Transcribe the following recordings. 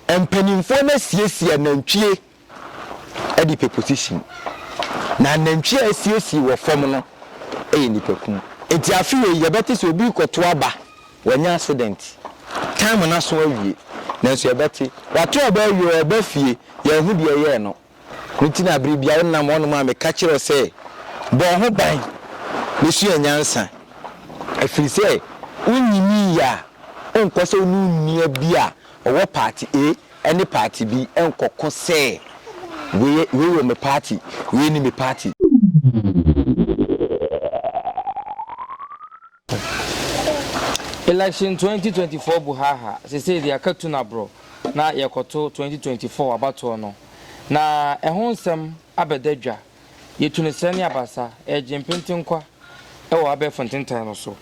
Mpanimfoɔ no asiesie anantwie de pɛ position, na anantwie a asiesie wɔ fam no yɛ nnipakum. Nti afe wei yɛbɛte sɛ obi rekɔto aba, wanya accident, time no aso awie, nanso yɛbɛte, wato aba awie, ɔreba fie, yɛnhu deɛ ɛyɛɛ no. No nti na bere biara wonam wɔnom a meka kyerɛ wo sɛ, Bɔ wo ho ban na sua nyansa, ɛfiri sɛ wonnyinii yɛ a, wonkɔ sɛ wo ne onua bi a ɔwɔ paati A ne paati B nkɔko sɛ, 'Wei wɔ me paati, wei nni me paati. Election twenty twenty four bu haaha sesei deɛ aka tu nabrɔ na yɛkɔto twenty twenty four abatoɔ no na ɛho nsɛm abɛda dwa yɛtu no srɛ ne abasa ɛyɛ gyempente nkwa ɛwɔ abɛɛfo ntentan no so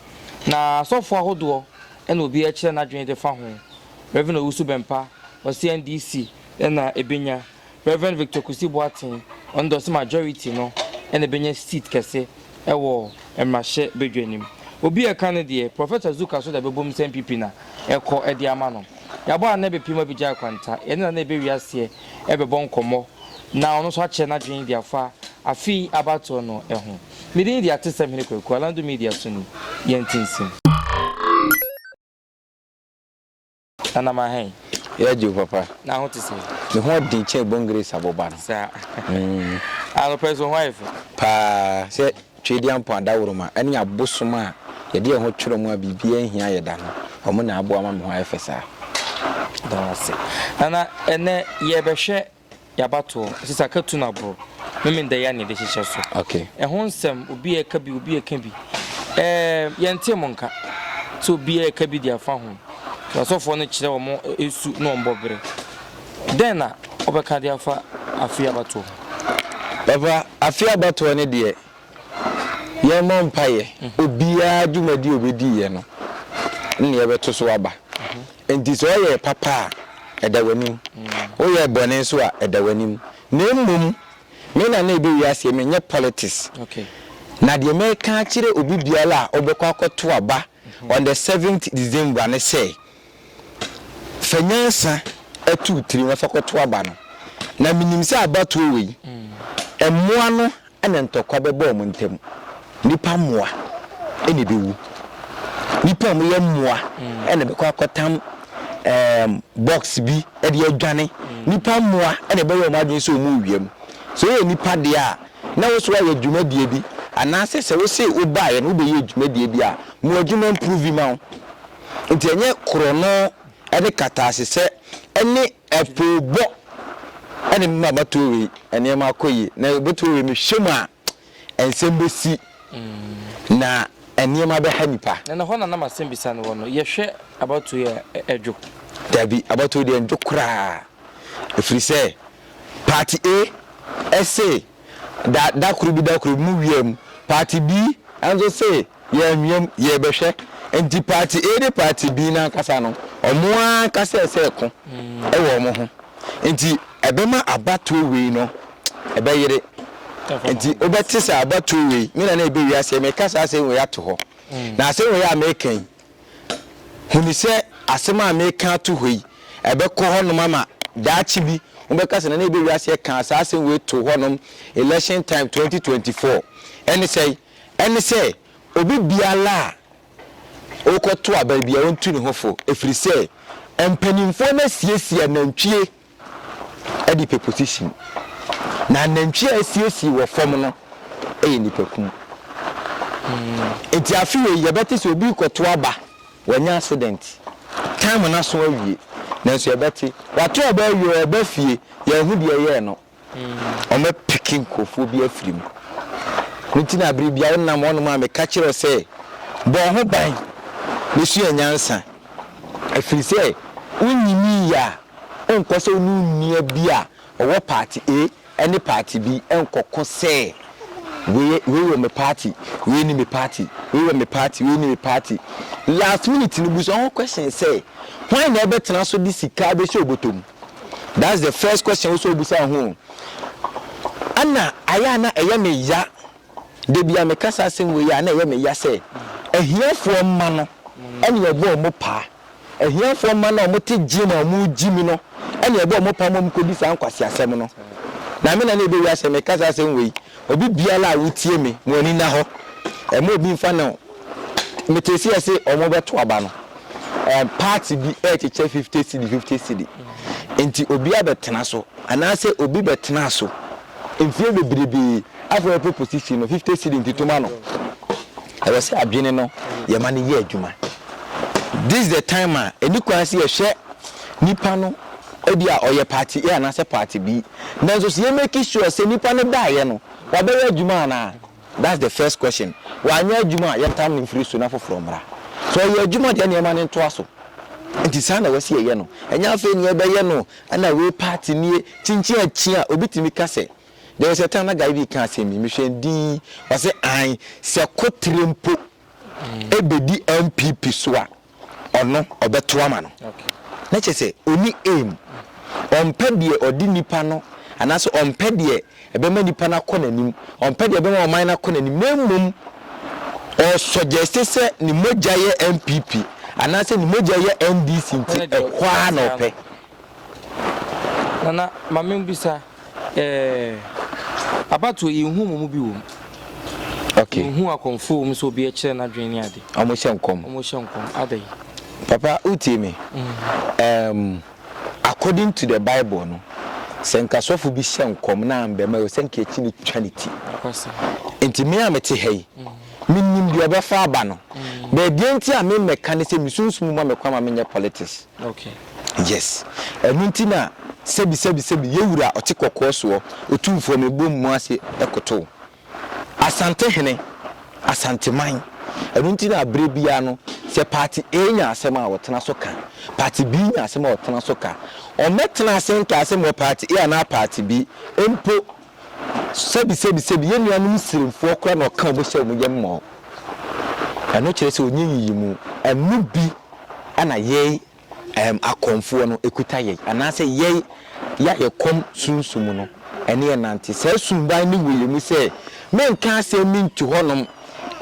na asɔfoɔ ahodoɔ ɛna obiara kyerɛ nadwene defa ho Rev Owusu Bɛmpa ɔse NDC ɛna ɛbɛnya Rev. Victor Kwesi Boateng ɔndɔse majority no na ebenya seat kɛse wɔ mmrahyɛ badwa no mu. Obi a ɛka no deɛ, Professor Zuka so da bɛbom sɛ NPP na ɛkɔ de ama no. Yɛabɔ Nana Ebepiem Abigyae kwanta, yɛne Nana Ebewie aseɛ rebɛbɔ nkɔmmɔ na ɔno nso akyerɛ n'adwene de afa afe yi abatoɔ no ho. Me din de Atesɛm Hene Kwaku, Alando Media so ni. Yɛnte nsɛm. Nanam ahen? Yɛ agye o papa. Na ho te sɛn? Me ho den kyɛn Bongrace aboba no. Saa. Anɔpa yi so wo ho ayɛ fɛ. Paa. Sɛ Tweediampɔn adaworoma ne abosom a yɛde yɛn ho twerɛ mu a biribiara nhia yɛ da no, wɔn na aboa ma me ho ayɛ fɛ saa. Meda wo ase. Nana, ɛnnɛ yɛrebɛhwɛ Yabatoɔ, sisaka tu na boro, memenda yi anede hyehyɛ so. Ɛho nsɛm, obi ɛka bi, obi ɛka bi. Ɛɛ, yɛntee mo nka sɛ obi ɛka bi de afa ho. Asɔfoɔ no kyerɛ wɔn ɛsu na wɔn bɔ bere. Dɛn na wobɛka de afa Afei Abatoɔ ho? Papa, Afei Abatoɔ no deɛ, Yɛmmɔ mpaeɛ. Obiara dwumadie a ɔbɛdiiɛ no, nneɛ bɛto so aba. Enti sɛ ɔyɛɛ papa a, ɛda w'anim. Woyɛɛ bɔne nso a, ɛda w'anim. Na mmom, me na na ɛbɛwie aseɛ, menyɛ politics. Na deɛ mɛka akyerɛ obi biara a ɔbɛkɔ akɔto aba on the seventh December ne sɛ, Fa nyansa to wo tirim na fa kɔto aba no, na menim sɛ abatoɔ wei, mmoa no na ntɔkwa bɛba wɔn ntam. Nnipa mmoa na ɛbɛwu. Nnipa a wɔyɛ mmoa na ɛbɛkɔ akɔtam um, box bi de adwane. Nnipa mmoa na ɛbɛyɛ wɔn adwene sɛ wɔn wia mu. Sɛ wɔyɛ nnipa deɛ a, na wo so ayɛ dwumadie bi anaasɛ sɛ wo se wo baeɛ no wo bɛyɛ dwumadie bi a mo adwuma mprovi ma wo nti ɛnyɛ korɔno ne kataasesɛ ne apoobɔ ɛne me ma matoɔ wei nneɛma akɔ yie na matoɔ wei mehwɛ mu a nsɛm bɛsi na nneɛma bɛha nipa. na na hɔ na nam asɛm bisa no wɔ no yɛhwɛ abatoɔ yɛ ɛdwo. dabi abatoɔ deɛ ndwo koraa. ɛfiri sɛ party A se da da koro bi da koro bi mo wia mu, party B nso se yɛ anwia mu yɛ bɛhwɛ, nti party A ne party B no ankasa no ɔmo ankasa ɛsɛ ɛko wɔ ɔmo ho, nti ɛbɛma abatoɔ wei no ɛbɛyere, nti wobɛte sɛ abatoɔ wei me na na ɛbɛ wiase, meka saa asɛm wei ato hɔ, na asɛm wei a meka yi Hunu sɛ asɛm a mereka ato hɔ yi, ɛbɛkɔ hɔnom ama daakye bi mobɛka sɛ, 'Ná na yɛbɔ wiase ɛkaa saa asɛm wei too hɔnom election time 2024. Ɛne sɛn? Ɛne sɛ, obi biara a ɔrekɔto aba biara ɔntu ne ho fo, ɛfiri sɛ mpanimfoɔ no asiesie anantwie. de pɛ position, na anantwi a asiesie wɔ fam no yɛ nnipakum. Nti afe wei yɛbɛte sɛ obi rekɔto aba, wanya accident, time no aso awie, nanso yɛbɛte, wato aba awie, ɔreba fie, yɛahu deɛ ɛyɛɛ no. wɔapeke nkurɔfoɔ bi afiri mu. Ne nti na berɛ biara wonam hɔnom a meka kyerɛ wo sɛ, Bɔ wo ho ban na sua nyansa, ɛfiri sɛ wonnyiniiɛ a, wonkɔ sɛ wo ne onua bi a ɔwɔ paati A ne paati B nkɔko sɛ, 'Wei wɔ me paati, wei nni me paati, wei wɔ me paati, wei nni me paati. Last minute no, busa wo ho question sɛ, Hwan na ɛbɛtena so de sika abɛhyɛ wo bɔtɔ mu? That's the first question wo sɛ obusa ho o. Ɛna ayɛ a na ɛyɛ me ya da bi a meka saa asɛm wei a na ɛyɛ me ya sɛ ahiafoɔ mma no ɛne ɛbɔ ɔmo paa. Ahiafoɔ mma no a ɔmo te gye na ɔmo gye mu no ɛne ɛbɔ ɔmo paa ma ɔmo kɔdi saa nkwaseasɛm no. Na me na na ɛbɛwie asɛ meka saa asɛm wei. Obi biara a wotie me, mo ani nna hɔ. Ɛmma obi mfa no Metee seɛ se ɔmo bɛto aba no, ɛɛ parts bi ɛɛkyekyɛ fifty cedi fifty cedi, nti obia bɛtena so, anaase obi bɛtenaa so mfie bebrebee, afei ɔpɛ posisi no, fifty cedi nti to ma no. Ɛwɔ se adwene no yɛma no yɛ adwuma. This the time a ɛni kwan se yɛhwɛ nipa no ebia ɔyɛ party A anaase party B, nanso se yɛ make sure se nipa no daeɛ no wabɛyɛ adwuma anaa? That's the first question. Wanyɛ adwuma a yɛntam no mfiri so na foforɔ mmra. Sɛ ɔyɛ adwuma deɛ ɛneɛ ma no ntoa so. Nti saa na wɔsi ɛyɛ no. Ɛnyɛ afei neɛ ɛbɛyɛ no ɛna wei party nie. Kyinkyin akyi a obi tumi ka sɛ there was a time na guy bi reka asɛm bi mehwɛ no dinn ɔse ae sɛ kotere mpo ɛbɛdi NPP so a ɔno ɔbɛto ama no na kyerɛ sɛ ɔni aim ɔmpɛ deɛ ɔde nipa no anaasɛ ɔmpɛ deɛ ɛbɛma nipa no akɔ n'anim ɔmpɛ deɛ ɛbɛma ɔman no akɔ n'anim na mmom ɔsɔgyɛste sɛ ne mogya yɛ npp anaasɛ ne mogya yɛ ndc nti ɛhɔ ara na ɔpɛ Nana ma me mbisa ɛɛɛ abatoɔ yɛn hu ɔmo mu bi wɔm. Ok. Yɛn hu akɔmfo wɔm sɛ obi ɛkyerɛ n'adwene ne ade. Ɔmo hyɛ nkɔm. Ɔmo hyɛ nkɔm adɛn. Papa wo tie me ɛɛm according to the bible no sɛ nka sɔfo bi hyɛ nkɔm na ambɛ ma yɛ sɛ nka yɛtumi twa ne ti. Nokwasɛm. Nti me a me te ha yi me nim deɛ ɔbɛfa aba no but deɛ nti a me mmɛka ne sɛ me sunsum ma me kwan ma me nyɛ politics. Yes. Ɛno nti na sɛbi sɛbi sɛbi yɛ wura ɔte kɔkɔɔ soɔ otumfoɔ me bom mu ase koto wo. Asante hene, Asanteman. Ɛno nti na aberɛ biara no sɛ party A nya asɛm a ɔtena so ka, party B nya asɛm a ɔtena so ka. Ɔmmɛtena ase nka asɛm wɔ party A anaa party B mpo Sɛbi sɛbi sɛbi yɛn nuanom siremfoɔ koraa na ɔka wɔn sɛ wɔn yɛ mmɔɔ. Ɛno kyerɛ sɛ ɔnyɛ nyiyimu. Ɛno bi na yɛn ɛɛm akɔmfoɔ no ɛkuta yɛn anaasɛ yɛn yɛ a yɛkɔm sunsum no ɛne yɛn nante. Saa suban no wɔ yɛn mu sɛ menka asɛm bi nto hɔnom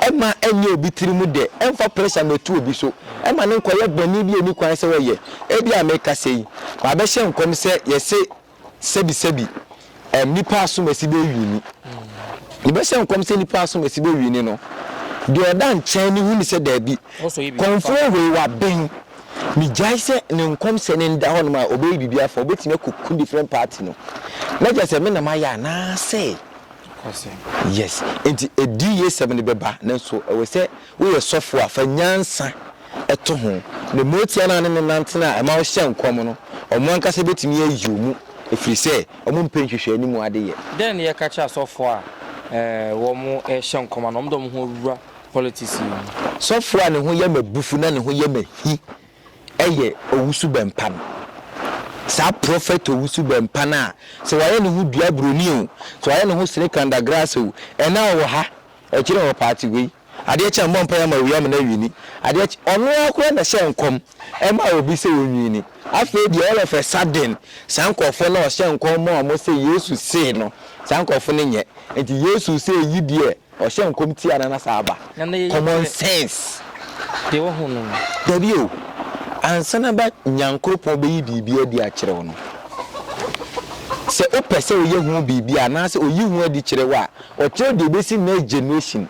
ɛmma ɛnyɛ obi tirim dɛ, ɛmfa pressure mmɛto obi so, ɛmma no nkɔyɛ bɔne bi a ɛnni kwan sɛ ɔyɛ. Ebia mekasa yi, mabɛhyɛ nkɔm sɛ yɛse. Sɛbisɛbi, ɛm, nipa asomasi bɛ wini. Yɛbɛ hyɛ nkɔm sɛ nipa asomasi bɛ wini no, deɛ ɔda nkyɛn no hunu sɛ daabi, kɔmfoɔ wei waben. Megyae sɛ ne nkɔm sɛ no nda hɔnom a, ɔbɛyɛ biribi afa, ɔbɛtumi akɔ ku different party no. Na kyerɛ sɛ me na mayɛ anaasɛ? Yes. Nti ɛdi yɛ sɛm no bɛba, nanso ɛwɔ sɛ. Woyɛ sɔfo a, fa nyansa to ho, na mmerɛ tiaa no a ne no nante no a ɛma wohyɛ nkɔm no, wɔn ankasa bɛtumi ayi wo mu, ɛfiri sɛ wɔmpɛ nhwehwɛanimu adeyɛ. Dɛn na yɛka kyerɛ asɔfoɔ a wɔrehyɛ nkɔm anaa wɔde wɔn ho awura politics yi mu? Sɔfoɔ a ne ho yɛ m'abufu na ne ho yɛ m'ahi yɛ owusu bɛmpa no. Saa prɔfɛt owusu bɛmpa no a, sɛ wayɛ ne ho dua buroni o, sɛ wayɛ ne ho sere kandagraase o, ɛnnɛ a ɔwɔ ha. Ɛkyerɛ wɔ party wei. Adeɛ kye a mmɔ mpaeɛ ma owia mena wini adeɛ kye ɔno ara koraa na ɛhyɛ nkɔm ma obi sɛ ɔnwini afei deɛ all of a sudden saa nkorɔfoɔ no a ɔhyɛ nkɔm ma wɔn sɛ Yesu see no saa nkorɔfoɔ no nyɛ nti Yesu sɛ ɛyi deɛ ɔhyɛ nkɔm tia no na saa aba common sense deɛ wahu no no. Dabi o ansa na ba Nyankoropɔn bɛyi biribi adi akyerɛ wo no sɛ wopɛ sɛ woyɛ ho biribi anaasɛ ɔyi ho adi kyerɛ wo a, Ɔkyerɛ deɛ ɛbɛsi next generation.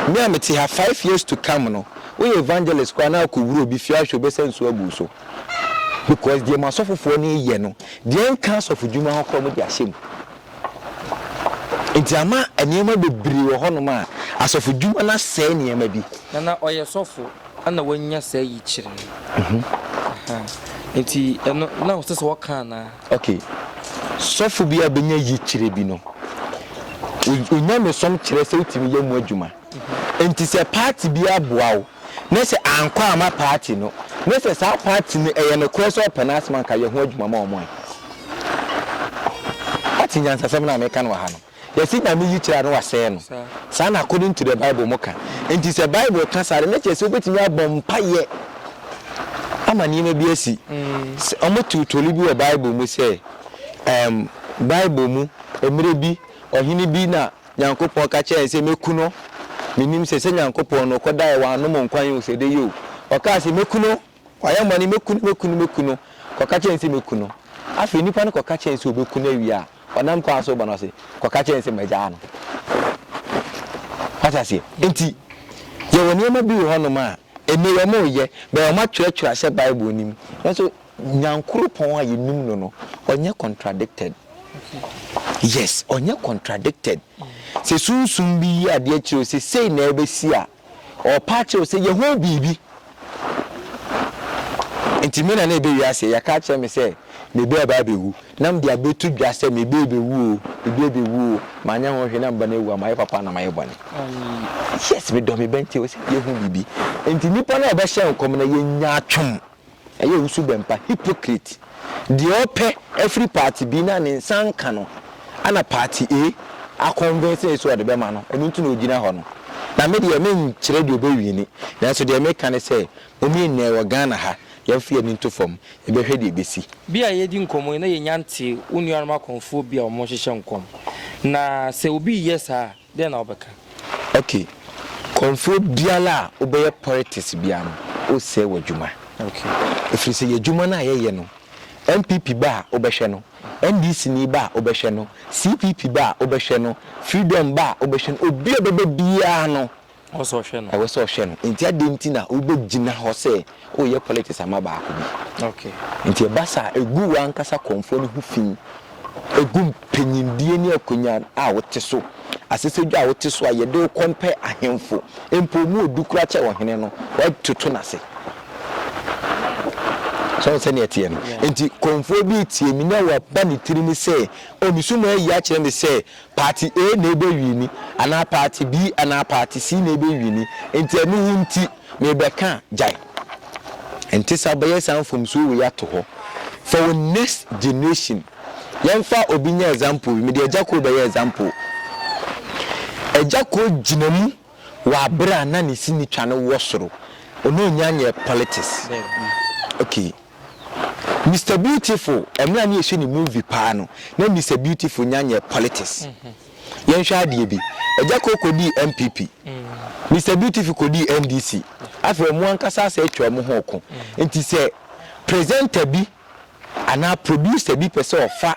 Me a mete ha five years to come no, woyɛ evangelist koraa na wokɔwura obi fie ahwɛ wobɛsa nsuo agu wo so. Because deɛ mo asɔfofoɔ no reyɛ no, deɛ ɛnka asɔfodwuma ho koraa wɔde ahyɛ mu. Nti ama nneɛma bebree wɔ hɔnom a, asɔfodwuma no asɛe nneɛma bi. Na na ɔyɛ sɔfo ɛna wanya saa yikyerɛ yi. Aha. Nti ɛno na ɔsɛ sɛ ɔka anaa? Ok sɔfo bi a benya yikyerɛ bi no onyamesom kyerɛ sɛ wotumi yɛ mu adwuma nti sɛ party bi aboa wo na sɛ ankɔ amma party no na sɛ saa party no ɛyɛ nokorɛ sɛ ɔpɛ n'asɛm anka yɛ ho adwuma ma wɔn ɛ. Woate nyansasɛm no a meka no wɔ ha no? Yɛse Nyame yikyerɛ a na wasɛɛ no. Saa na according to the Bible mo ka. Enti sɛ Bible ka saa de na kyerɛ sɛ wobɛtumi abɔ mpaeɛ ama nneɛma bi asi. Sɛ wɔn too toli bi wɔ Bible mu sɛ ɛɛm Bible mu mmerɛ bi ɔhene bi na Nyankopɔn ka kyerɛɛ no sɛ mɛku no. Menim sɛ sɛ Nyankopɔn no ɔkɔdaeɛ w'anom nkwan o sɛ ɛdɛ yɛ o. Ɔkaa sɛ mɛku no Wayɛ mma no, Mɛku no, mɛku no, mɛku no. Kɔka kyerɛ no sɛ, Mɛku no. Afei nipa no kɔka kyerɛ no sɛ ɔbɛku no awie a, ɔnam kwan so reba no, ɔse, Kɔka kyerɛ no sɛ magyaa no. Wate aseɛ? Enti, yɛwɔ nneɛma bi wɔ hɔnom a, nneyɛ wɔreyɛ, bɛyɛ wɔatwerɛtwerɛ ahyɛ Bible no mu, nanso Nyankoropɔn a yɛnim no no, ɔnyɛ contradicted. Yes, ɔnyɛ contradicted. Sɛ sunsum bi yi adeɛ kyerɛ wo sɛ sei na ɛbɛsi a, Ɔrepa akyerɛ wo sɛ yɛ ho biribi. Nti me na na ɛbɛ wiase yɛ ka kyerɛ me sɛ me bɛ ɛbɛ abɛwu na mede abɛto dwa sɛ me bɛ ɛbɛwu o me bɛ ɛbɛwu o manyɛ ho hwɛ na meba no awu a mayɛ papa na mayɛ bɔne yes me dɔ me bɛ nti wo sɛ yɛ ho biribi nti nipa na ɛbɛhyɛ nkɔm na yɛnya atwom Ɛyɛ wo su dɛn pa hypocrite deɛ ɔpɛ afiri party bi na ne nsa nka no ɛna party A a convince no sɛ ɔde bɛma no ɛno nti na ɔgyina hɔ no na me deɛ me nkyerɛ deɛ ɔbɛ wini nanso deɛ me ka ne sɛ mom yɛ nyinaa wɔ Ghana ha yɛn nfa yɛn ani nto fam yɛ bɛ hwɛ deɛ ɛbɛ si. Bia a yɛredi nkɔmmɔ yi na yɛnya ntee wo nuanom akɔmfoɔ bi a wɔhyehyɛ nkɔm na sɛ obi reyɛ saa a, Dɛn na wobɛka? Ok, kɔmfoɔ biara a wobɛyɛ pɔlitiks biara no, wosɛe w'adwuma. Ok. Ɛfiri sɛ y'adwuma no a yɛyɛ no, NPP ba a wobɛhwɛ no, NDC ni ba a wobɛhwɛ no, CPP ba a wobɛhwɛ no, Freedom ba a wobɛhwɛ no, obi a ɔbɛba biara no, Ɛwɔ sɛ ɔhwɛ no. Ɛwɔ sɛ ɔhwɛ no. Nti adɛn nti na wobɛgyina hɔ sɛ woreyɛ politics ama baako bi? Okay. Nti ɛba saa a, ɛgu w'ankasa kɔmfoɔ no ho fi, ɛgu mpanyindie ne akonwa a wote so, asɛsɛdwa a wote so a yɛde wo compare ahemfo, mpo wɔn a wɔdu koraa kyɛ ɔhene no, woatoto no ase. So wohu sɛdeɛ ɛteɛ no? Nti kɔmfoɔ bi retie me na waba ne tiri mu sɛ, oh, me so mu ayi akyerɛ me sɛ Party A na ebe wini anaa party B anaa party C na ebe wini nti ɛno ho nti me bɛ ka a gyae ɛnte saa bɛ yɛ saa mfomsoɔ wei ato hɔ for wo next generation yɛn fa obi nyɛ example bi me de agya koo bɛ yɛ example agya koo gyina mu wɔ abere a na ne sini twa no wɔ soro ɔno ɔnya nyɛ politics okay. Mister Beautiful ɛmera ne yɛhwɛ ne movie paa no na Mister Beautiful nya nyɛ politics yɛnhwɛ adeɛ bi Agyakoo kɔdii NPP Mister Beautiful kɔdii NDC afei ɔmo ankasa asɛ atwa ɔmo ho ɔko nti sɛ presenter bi anaa producer bi pɛ sɛ ɔfa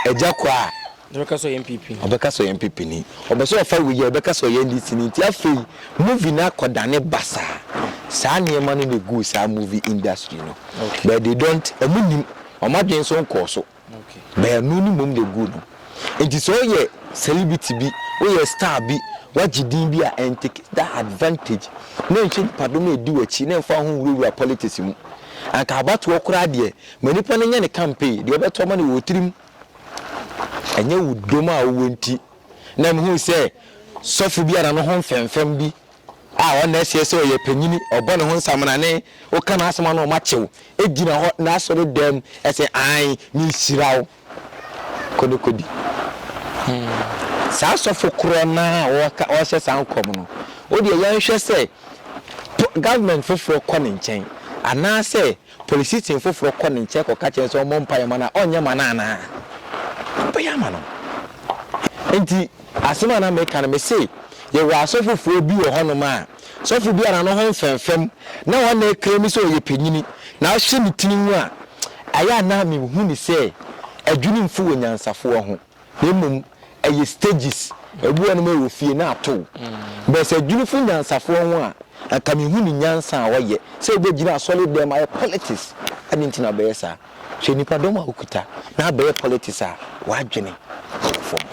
Agyakoo a Na ɔbɛka sɛ ɔyɛ NPP ni. Ɔbɛka sɛ ɔyɛ NPP ni. Ɔpɛ sɛ ɔfa wei a, ɔbɛka sɛ ɔyɛ NDC ni. Nti afei, movie no akɔdane basaa. Saa nneɛma no na eguu saa movie industry no. But they don't, wɔn nnim. Wɔn adwene nso nkɔɔ so. But ɛno no mmom na eguu no. Nti sɛ woyɛ celebrity bi, woyɛ star bi, woagye din bi a, ɛntake that advantage. Na ɛnhwɛ nnipadɔm a edi w'akyi, na ɛmfa wo ho nwurawura politics mu. Anka abatoɔ koraa deɛ, ma nipa no nyɛ ne campaign. Deɛ ɔbɛto ama no wɔ tirim. Ɛnyɛ wo dom a wowɔ nti na mihuu sɛ sɔfo bi a na ne ho mfɛmfɛm bi a ɔnna ɛseɛ sɛ ɔyɛ panyini, ɔbɔ ne ho nsamena ne woka n'asɛm a na ɔma kyew gyina hɔ n'asɔredan mu sɛ, Aane, mehyira wo. Kɔ ne kɔdi. Saa sɔfo korɔ no ara a ɔrehyɛ saa nkɔm no, wo deɛ yɛnhwɛ sɛ government foforɔ kɔ ne nkyɛn anaasɛ Polisini foforɔ kɔ ne nkyɛn kɔka kyerɛ no sɛ ɔmmɔ mpaeɛ mma no a, ɔrenyɛ mma no anaa? Ɔbɛyɛ ama no. Enti, asɛm a na mereka no, mese, yɛwɔ asɔfofoɔ bi wɔ hɔnom a, sɔfo bi a n'ano ho mfɛmfɛm, na ɔnna ɛkrɛmi sɛ ɔyɛ panyini, na wohwɛ ne tiri ho a, ɛyɛ a na mehu no sɛ adwenemfo wɔ nyansafoɔ ho. na mmom ɛyɛ stages, ebi wɔ hɔ nom a ɛwɔ fie na atow. But sɛ adwinifo nyansafoɔ ho a, anka mehu ne nyansa a ɔyɛ sɛ ɔbɛgyina asɔre dɛm ayɛ politics, adɛn nti na ɔbɛyɛ saa? Hwɛ nnipa dɔm a ɔkuta na abɛyɛ politics a w'adwene wɔ fam.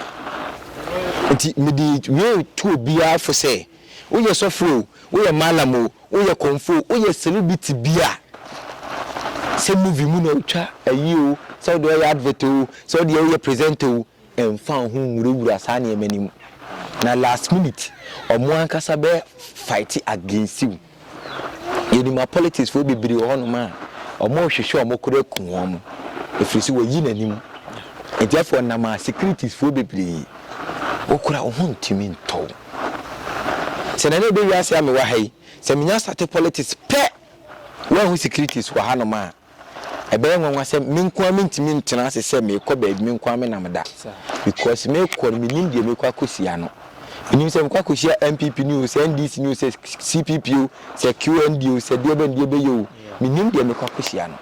Nti mede wei to obiara fo sɛ, woyɛ sɔfo o, woyɛ mallam o, Woyɛ kɔmfo o, woyɛ celebrity bi a, sɛ movie mu na wotwa ayi o, sɛ wode ɔyɛ advert o, sɛ wode yɛ woyɛ presenter o, mfa wo ho nwurawura saa nneɛma no mu. Na last minute, wɔn ankasa bɛ fight against wo. Yɛnim apolitics foɔ bebree wɔ hɔnom a, wɔrehwehwɛ wɔn koro aku wɔn, ɛfiri sɛ wɔayi n'anim. Nti afei ɔnam a securities foɔ bebree, wo koraa wo ho ntumi ntɔ wo. Sɛ nane ɛbɛ wiase a me wɔ ha yi sɛ me nya starte politics pɛ wa hu securities wɔ ha nom a ɛbɛyɛ nwanwa sɛ me nko ara me ntumi ntena ase sɛ me kɔ baabi me nko ara me nam da because me kɔ no me nim deɛ me kɔ akɔsia no me nim sɛ me kɔ akɔsia MPP ni o sɛ NDC ni o sɛ CPP o sɛ QND o sɛ deɛ bɛn deɛ bɛyɛ o me nim deɛ me kɔ akɔsia no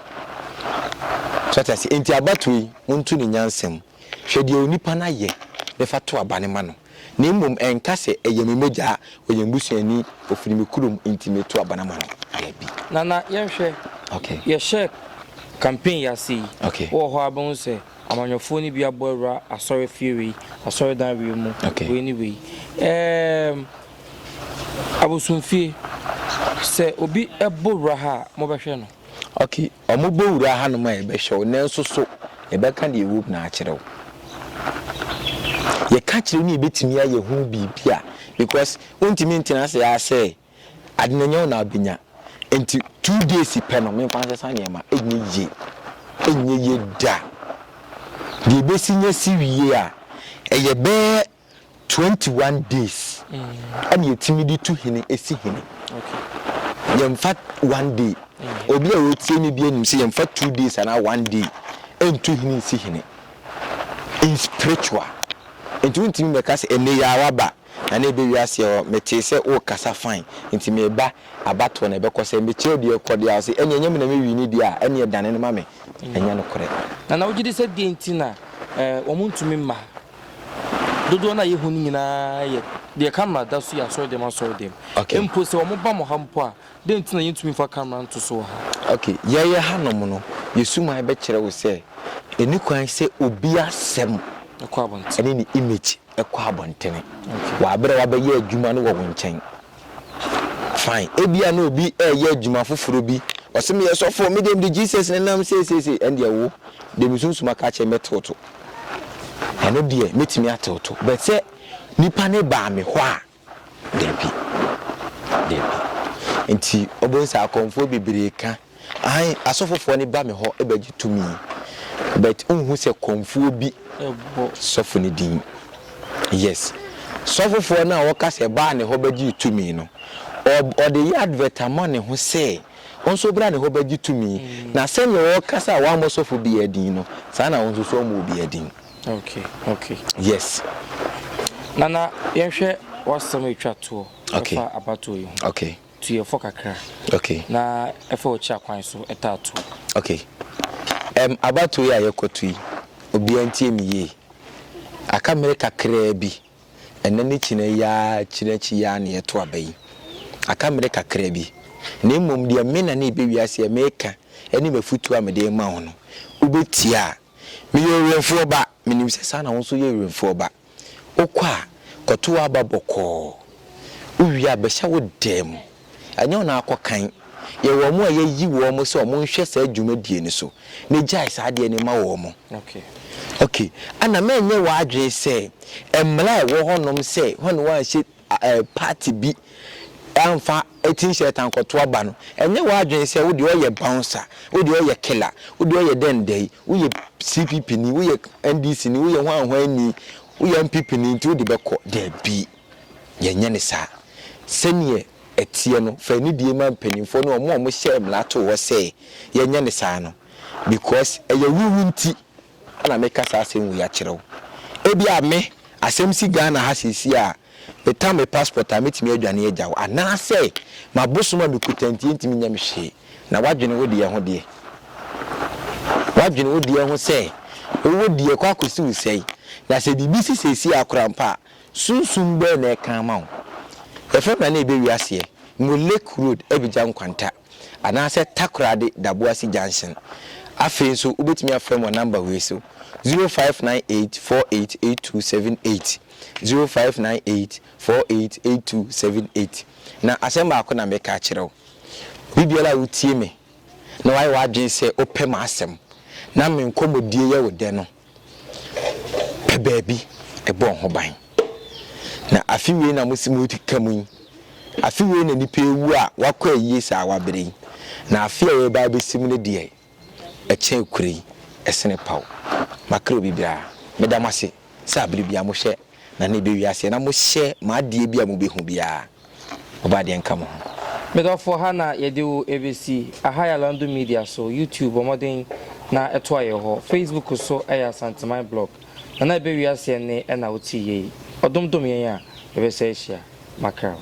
so ati ase enti abatoɔ yi monto ne nyansam hwɛ deɛ onipa no ayɛ bɛfa to aba ne ma no. Na mmom ɛnka sɛ, Ɛyɛ me mogya, ɔyɛ me busuani, ɔfiri me kurom, enti meto aba no ama no. Ayɛ bi. Nana, yɛnhwɛ. Okay. Yɛhyɛɛ campaign yi ase yi, Okay. wowɔ hɔ a wobɛhu sɛ amanyɔfoɔ no bi abɔ awura asɔrefie wei, asɔredan wei mu, Okay. wei ne wei. Ɛɛm, abosomfie, sɛ obi bɔ wura ha a, mobɛhwɛ no? Ok, wɔbɛwura hanom a yɛbɛhwɛ wo, nanso so yɛbɛka deɛ ɛwom no akyerɛ wo? Yɛka kyerɛ wo ne yɛbɛtumi ayɛ ho biribi a, because wontumi ntena ase ara sɛ ade no nyɛ wo na wobɛnya. Nti two days pɛ no memfa nsesa nneɛma, ɛnyɛ yie, ɛnyɛ yie da. Deɛ ɛbɛsi nyɛ si wie a, ɛyɛ bɛyɛ Twenty one days ɛna yɛtumi de tu hene esi hene. Yɛmfa one day. Obi a ɔretie me bi anim sɛ yɛmfa two days anaa one day ɛntu hene nsi hene. In spiritual. Nti wontumi mɛka sɛ ɛnɛ yi ara ba na na ɛbɛ wiase hɔ metee sɛ wokasa fine nti meba abatoɔ na ɛbɛkɔ sɛ mekyerɛ deɛ ɛkɔ deɛ a ɔse ɛne ɛnyɛ me na mɛwi ne deɛ a ɛne ɛdane no ma me ɛnyɛ nokorɛ. Nana wogye di sɛ deɛ nti na wɔn ntumi mma Dodoɔ no a yɛhu no nyinaa yɛ deɛ camera da so yɛ asɔrɛdɛm asɔrɛdɛm. Okay. Mpo sɛ wɔba mo ha mpo a, dɛn nti na yɛntumi mfa camera nto so wɔ ha? Okay, yɛyɛ hanom no, yɛn suman bɛkyerɛ wo sɛ ɛnni kwan sɛ obi asɛm Ɛkɔ abɔntene. ne ne image kɔ abɔntene. Okay. Wɔ berɛ a wabɛyɛ adwuma no wɔ wo nkyɛn. Fine, ebia na obi reyɛ adwuma foforɔ bi, ɔse meyɛ sɔfoɔ, me deɛ mede Jesus ne nam seiseisei, ɛndeɛ wo deɛ me sunsum aka akyerɛ me bɛtew to. Ɛno deɛ mɛtumi atew to, but sɛ nipa ne baa me hɔ a, dabi, dabi. Nti wobɛhu sɛ akɔmfoɔ bebree ka Aane, asɔfofoɔ no ba me hɔ bɛgye tumi, but wonhu sɛ kɔmfoɔ bi bɔ sɔfo no din. Yes. Sɔfofoɔ no a ɔka sɛ baa ne hɔ bɛgyee tumi no, ɔde yɛ advert ama ne ho sɛ wo nso bra ne hɔ bɛgye tumi, na sɛdeɛ ɔrekasa a wammɔ sɔfo biara din no, saa na wo nso so woammɔ obiara din. Okay, okay. Yes. Nana, yɛnhwɛ w'asɛm a ɛtwa toɔ ɛfa abatoɔ yi ho. Okay. Tu yɛ fɔ kakra. Okay. Na ɛfɛ ɔkyi akwan so ɛtaa tu. Okay. Ɛm abatoɔ yi a yɛkɔ tu yi, obiara ntie me yie. Aka mmere kakraa bi, ɛnɛ ne kyinɛ yi ara kyinɛ akyi yi ara na yɛto aba yi. Aka mmere kakra bi. Na mmom deɛ me Nana Ibewia Aseɛ meka ɛne m'afutuo a mede rema wo no, wobɛtie a, meyɛ Owemfoɔ ba, menim sɛ saa na wo nso woyɛ Owemfoɔ ba. Wokɔ a, kɔto w'aba bɔkɔɔ. Wowie a, bɛhyɛ wo dan mu. Ɛnyɛ wo na woakɔ kan. Yɛ wɔn a yɛayi wɔn sɛ wɔnhwɛ saa dwumadie no so na gyae saa adeɛ no ma wɔn. Okay. Ɛna mɛnyɛ w'adwene sɛ mmara a ɛwɔ hɔnom sɛ hwane wanhyɛ. party bi amfa tin shirt ankɔto aba no, ɛnyɛ w'adwene sɛ wo deɛ ɔyɛ bouncer, wo deɛ ɔyɛ killer, wo deɛ ɔyɛ dɛn dɛn, woyɛ CPP ni, woyɛ NDC ni, woyɛ hwan hwan ni, woyɛ NPP ni nti wode bɛkɔ. Dabi, yɛnyɛ no saa. Sɛdeɛ ɛteɛ no, fa anidie ma mpanimfoɔ ne wɔn a wɔhyɛɛ mmara too hɔ sɛ yɛnyɛ no saa no because ɛyɛ wo wu nti na meka saa asɛm wei akyerɛ wo. Ebia me, asɛm si Ghana ha seesei a, metan me passport a, mɛtumi adwane agya wo. Anaasɛ m'abosom a mekuta nti ɛntumi nyɛ me hwee. Na woadwene wo deɛ ho deɛ? Woadwene wo deɛ ho sɛ wo wo deɛ kɔ akɔsi wo sɛn? Na sɛ biribi si seesei ara koraa mpo a, sunsum bɛn na ɛka ama wo? Yɛfrɛ me a na ɛbɛwie aseɛ. Mewɔ Lake Road, Abidjan Nkwanta. anaasɛ Takoradi Daboase Junction. Afei nso wobɛtumi afrɛ me wɔ namba wei so, 0598 488278, 0598 488278. Na asɛm baako na meka akyerɛ wo, bere biara a wotie me na woayɛ w'adwene sɛ wopɛ m'asɛm na me nkɔmmɔdie yɛ wo dɛ no, pɛ baabi bɔ ho ban. Na afe wei na mose moredi ka mu yi, afe wei na nnipa awu a wɔakɔ ayie saa wabrɛ yi, na afe a yɛreba abɛsi mu no deɛ, ɛkyɛn akura yi, ɛsene paw. Makra obi biara. Meda mo ase sɛ aberɛ biara mohwɛ Na na ɛbɛwie aseɛ na mohyɛ mo adeɛ bi a mobɛhu biara, mobɔ adeɛ nka mo ho. Me dɔfoɔ ha na yɛde wo ɛbɛsi Ahaya Landu Media so, YouTube bɔ mmɔden na toa yɛn hɔ, Facebook so yɛ Asanteman Blog, na na ɛbɛwie aseɛ nne na wotee yei. Ɔdom dom yɛn a yɛbɛsa ahyia. Mackerel.